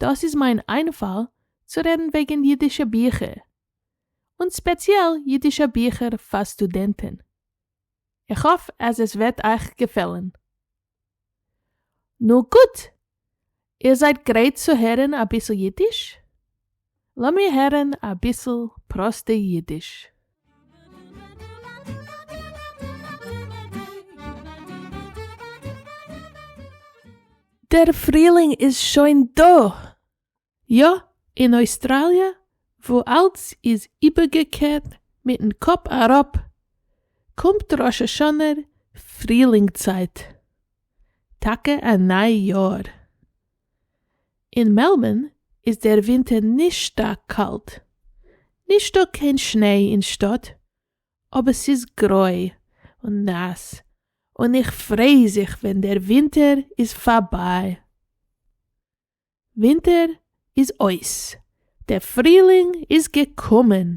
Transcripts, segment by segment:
דאס איז מיין איינפאל צו רעדן וועגן אידישע ביכער, און ספעציעל אידישע ביכער פאר סטודענטן. איך האף אז עס וועט אייך געפעלן. נו גוט! איר זייט גרייט צו הערן אביסל אידיש? לאמיר הערן אביסל פראסטע אידיש. דער פרילינג איז שוין דא! יא, אין אויסטראליע וואו אלץ איז איבערגעקערט מיטן קאפ אראפ, קומט ראש השנה פרילינג צייט, טאקע א ניי יאר. אין מעלבארן איז דער ווינטער נישט שטארק קאלט. נישטא קיין שניי אין שטאט, אבער ס'איז גרוי און נאס און איך פריי זיך ווען דער ווינטער איז פארביי. ווינטער איז אויס, דער פרילינג איז געקומען!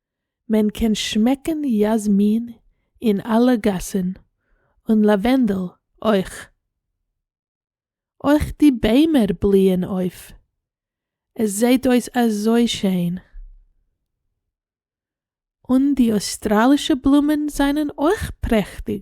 מען קען שמעקן יאזמין אין אלע גאסן, און לאווענדל אויך. אויך די ביימער בליען אויף, עס זעהט אויס אזוי שיין. און די אויסטראלישע בלומען זענען אויך פרעכטיג.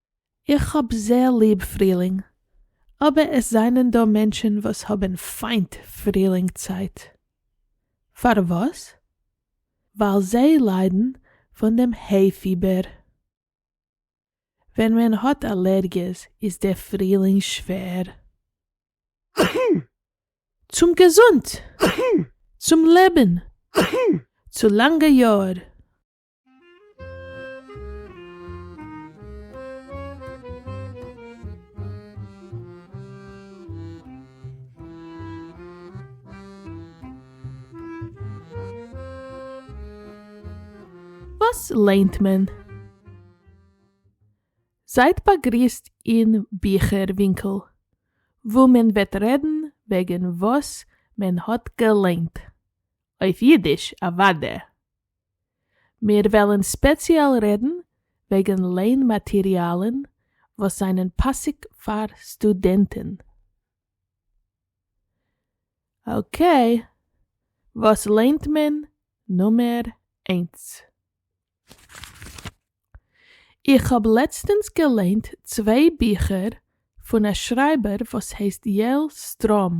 איך האב זייער ליב פרילינג, אבער עס זענען דא מענטשן וואס האבן פיינט פרילינג צייט. פארוואס? ווייל זיי ליידן פון דעם היי פיבער. ווען מען האט אלערגיעס איז דער פרילינג שווער. צום געזונט! צום לעבן! צו לאנגע יאר! וואס ליינט מען? זייט באגריסט אין ביכער ווינקל, וואו מען וועט רעדן וועגן וואס מען האט געליינט, אויף אידיש אוודאי. מיר וועלן ספעציעל רעדן וועגן לערן מאטעריאלן וואס זענען פאסיג פאר סטודענטן. אקעי, וואס לערנט מען נומער איינס? איך האב לעצטענס געליינט צוויי ביכער פון א שרייבער וואס הייסט יעל סטראם.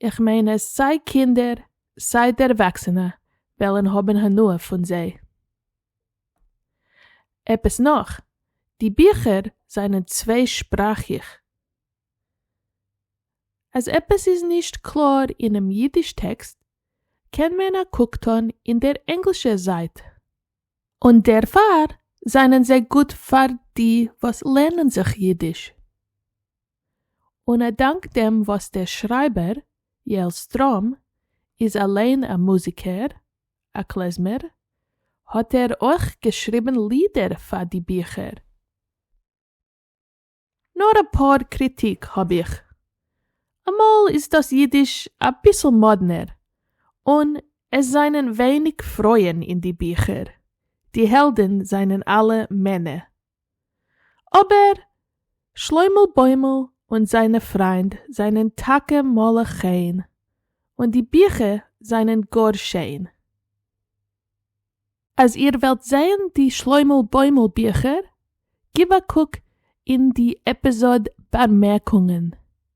איך מיין אז סיי קינדער סיי דערוואקסענע וועלן האבן הנאה פון זיי. עפעס נאך, די ביכער זענען צוויי שפראכיך. אז עפעס איז נישט קלאר אינעם אידיש טעקסט קען מען א קוק טון אין דער ענגלישע זייט. און דערפאר זענען זיי גוט פאר די וואס לערנען זיך אידיש. און א דאנק דעם וואס דער שרייבער, יעל סטראם, איז אליין א מוזיקער, א קלעזמער, האט ער אויך געשריבן לידער פאר די ביכער. נאר אפאר קריטיק האב איך. אמאל איז דאס אידיש אביסל מאדנער, און עס זענען ווייניג פרויען אין די ביכער, די העלדן זענען אלע מענע, אבער שלוימל בוימל און זיינע פריינד זענען טאקע מלא חן, און די ביכער זענען גאר שיין. אז איר ווילט זעהן די שלוימל בוימל ביכער, גיב א קוק אין די עפיזאד באמערקונגען.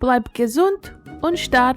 בלייב געזונט און שטארק!